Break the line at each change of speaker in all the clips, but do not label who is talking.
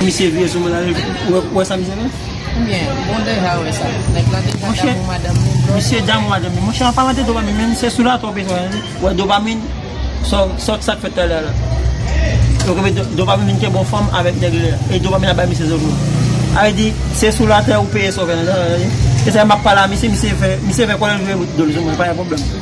Misye vye sou moun ale ou wè sa misye fè? Oubyen
ou deja wè sa? Nèg lan deja damou madanm li blòf. Misye
damou madanm li. Monchè an palan de dopamin men se sou latè ou bezwen an wi. Wè dopamin sa w sa k fèt talè a la. Ou konnen dopamin vin kè bon fanm avèk nèg li a. E dopamin ap bay misye zòvyon. A vle di se sou latè ou peye sa w fè an. E sa m ap pale a misye, misye fè kòlè l vire dol sou mwen pa gen pwoblèm.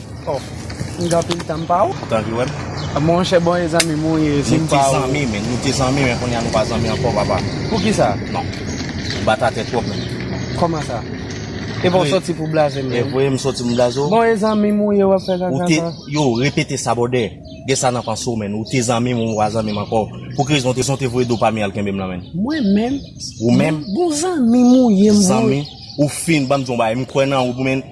Oh
m gen anpil tan m pa w. Tan ki wèm.
Monchè bon e
zanmi m ou ye si m pa w. Nou te zanmi men
nou te zanmi men kounye a nou pa zanmi ankò papa. Poukisa? Non.
Ou
bat atè twòp menm. Kòman sa?
Epa w soti pou w blaze m menm. Epa w ye m soti m blaze
w. Bon e zanmi m ou ye w
ap fè kaka sa. Ou te yo repete
sa bòdè. Gen sa nan panse w menn. Ou te zanmi m ou pa zanmi m ankò. Pou ki rezon w te zanmi m ou te voye do pa m al kenbe m lan menn. Mwen menm?
Ou menm? Bon
zanmi m ou
ye m vre. Zanmi? Ou
fin banm di yon bagay m kwè nan ou menn.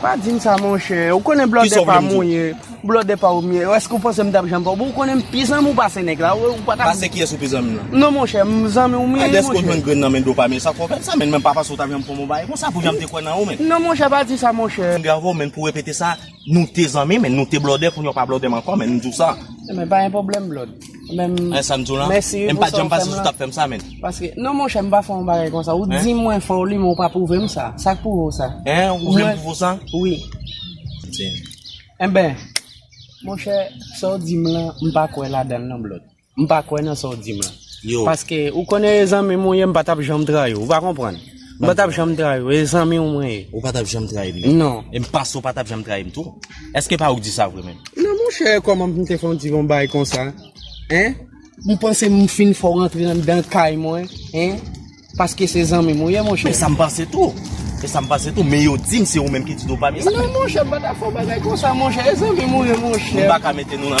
Pa di m sa
monchè, ou konnen blòdè pa m ou ye, blòdè pa ou m ye, èske ou panse m t ap janm fè ou, bon ou konnen m pi zanmi w pase nèg la, ou pa t ap. Pase kiyès ou pi zanmi lan?
Non monchè, m zanmi
w m ye monchè. Dèske ou jwenn grenn nan men
Dopamy sa k fè w fè sa menn, men pa pase ou t ap janm fè m yon bagay konsa pou jan m te kwè nan ou menn. Non monchè pa di sa
monchè. Bravo menn pou repete sa,
nou te zanmi menn, nou te blòdè, kounye w pa blòdè m ankò menn, m di w sa. Menn pa gen pwoblèm
blòd. Menm An sa m di w lan Mèsi wi
pou sa w fè m lan M pa janm panse si
w t ap fè
m sa menn Paske Non monchè m
pa fè yon bagay konsa Ou di mwen fè w li men ou pa pwouve m sa Sa k pwouve w sa Hein ou vle m pwouve w sa
Wi
Enben Monchè sa w di m lan m pa kwè ladan l non Blot M pa kwè nan sa w di m lan Yo Paske ou konnen e zanmi m ou ye m pa t ap janm trayi w ou pa konprann. M pa tap janm trayi w, e zanmi w mwen ye. Ou pa tap janm trayi
m? Non. E m panse ou pa
tap janm
trayi m tou. Eske pa ou k di sa vre menm? Non monchè, kòman
pou m te fè w di yon bagay konsa? Hein? M panse m fin fè w rantre anndan kay mwen, hein? Paske se zanmi m ou ye monchè. E sa m panse tou.
E sa m panse tou. Men yo di m se ou menm ki di Dopami sa. Non monchè, m pa ta fè
w bagay konsa monchè. E zanmi m ou ye monchè. M pa ka mete nou nan.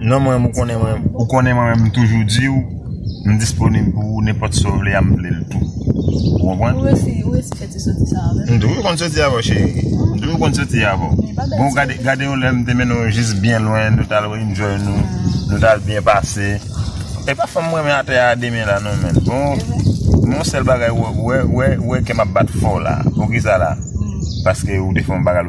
Non mwen ou konnen mwen ou konnen mwen menm m toujou diw m disponib pou ou nenpòt sa ou vle a m vle l tou ou konprann ou resi ou resi fè ti
soti sa avèm m toujou konn soti avèw cheri
m toujou konn soti avèw bon gade gade yon lè m te mennenw jis byen lwen nou tal enjoy nou nou tal byen pase e pa fanm m renmen atè a demen la non menn bon men yon sèl bagay wè wè wè kèm ap bat fò la poukisa la paske ou te fè yon bagay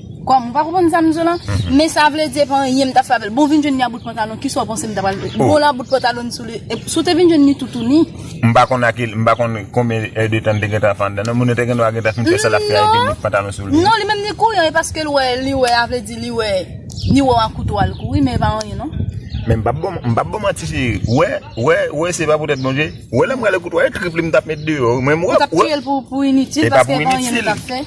Kòm ou pa konprann sa m di w lan, men sa vle di e pa anyen m ta fè avè l. Bon, w vin jwenn li a bout pantalon, kisa w panse m ta pral fè? Bon, la bout pantalon n sou li, si w te vin jwenn li toutouni. M pa konn a ki, m
pa konn konbyen è de tan li te gentan ap fè anndan non, moun nan te gendwa gentan fin fè sa l ap fè a epi bout pantalon sou li. Non, li menm li kouri an, e paske
l wè, li wè a vle di li wè, li wè w ak kouto a l kouri, men e pa anyen non. Men m p ap ba w, m
p ap ba w manti cheri, wè, wè, wè se pa poutèt bon je, wè lè m rale kouto a e trip li m t ap met deyò wi, men m wè, wè. Ou t ap touye l pou
initil paske e pa anyen li t ap fè.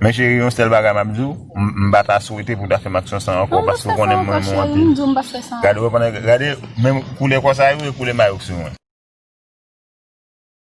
Men cheri yon sèl bagay
map diw, m pa ta swete pou ta fèm aksyon sa ankò paske ou konnen m renmen w anpil. Gade menm koulè kò sa yo e koulè mayo k sou mwen.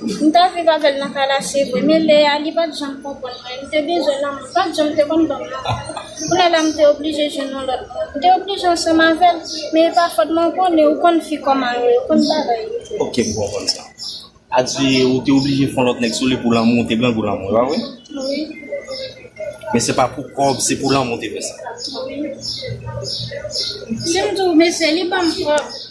M tap viv avèl nan kalache vre men lè a li pat janm konprann mwen m te bezwen lanmou l pat janm te konn banm lanmou kounye la m te oblije jwenn yon lòt moun m te oblije ansanm avèl men epa fòt mwen ou konnen ou konn fi kòman yo yo konn bagay yo ok
m konprann sa a di ou te oblije fon lòt nèg sou li pou lanmou ou te grangou lanmou epa vre wi men se pa pou kòb se pou lanmou ou te fè sa wi
si m di w mesye li banm kòb.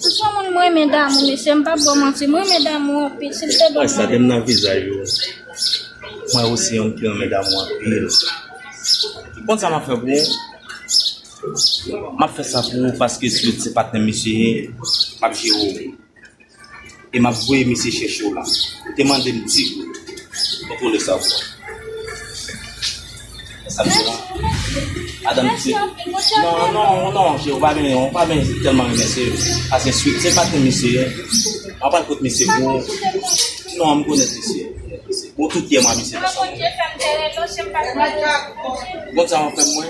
Siswa moun m renmen damou mesye m pap baw manti m renmen damou anpil sil te done. Mwen santim nan vizaj ou
mwen osi yon ki renmen damou anpil ou konn sa map fè pou ou map fè sa pou ou paske si ou t se patnèm misye ye map jere ou. e map voye misye chèche w la ou te mande m ti gout mwen konnen sa w pran e sa m di la madanm m di
non non
non cheri ou pa byen ou pa byen tèlman renmen se asen swit se pa te misye ye mwen pral pot misye pou ou non m konnen misye bon tout yè mwen misye konsa mwen konn sa w ap fè mwen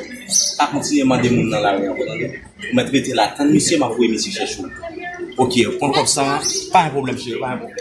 pa kontinye mande moun nan lari ankò tande. Ou met rete la tann misye map voye mesye chèche w ok pran kob sa pa gen pwoblm cheri pa gen pwoblm.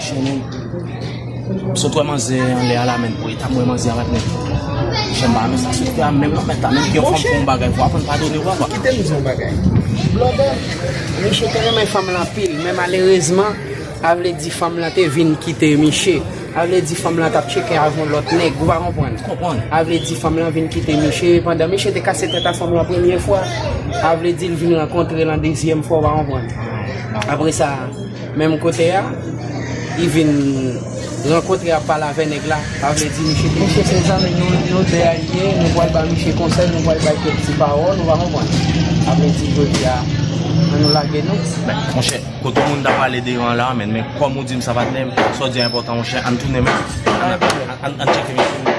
Chèn Sot wè manzè anlè a la menm pou etam wè manzè a bat nèg yo. Chèn ba men sa sot wè a menm nan mèt la menm gen yon fanm fon bagay pou aprann padone wè wap. Kite m di yon bagay.
Blòdè Miche te renmen fanm lan anpil men malerezman a vle di fanm lan te vin kite Miche. A vle di fanm lan tap tcheke avèk yon lòt nèg ou pa konprann. M konprann. A vle di fanm lan vin kite Miche pandan Miche te kase tèt a fanm lan premye fwa. A vle di l vin rankontre l an dezyèm fwa ou pa konprann. Apresa. Menm kote a I vin rankontre ap pale avè nèg la pa vle di misye te Misye se zanmi nou nou 2 a liye nou pwal ba misye konsèy nou pwal bay kèk ti pawòl ou pa konprann pa vle di jodi a an nou lage nou. Men monchè kote ou
moun ta pale de yo an la amèn men kòm ou dim sa patnèm sa w di a enpòtan monchè an tounen men an tcheke misye.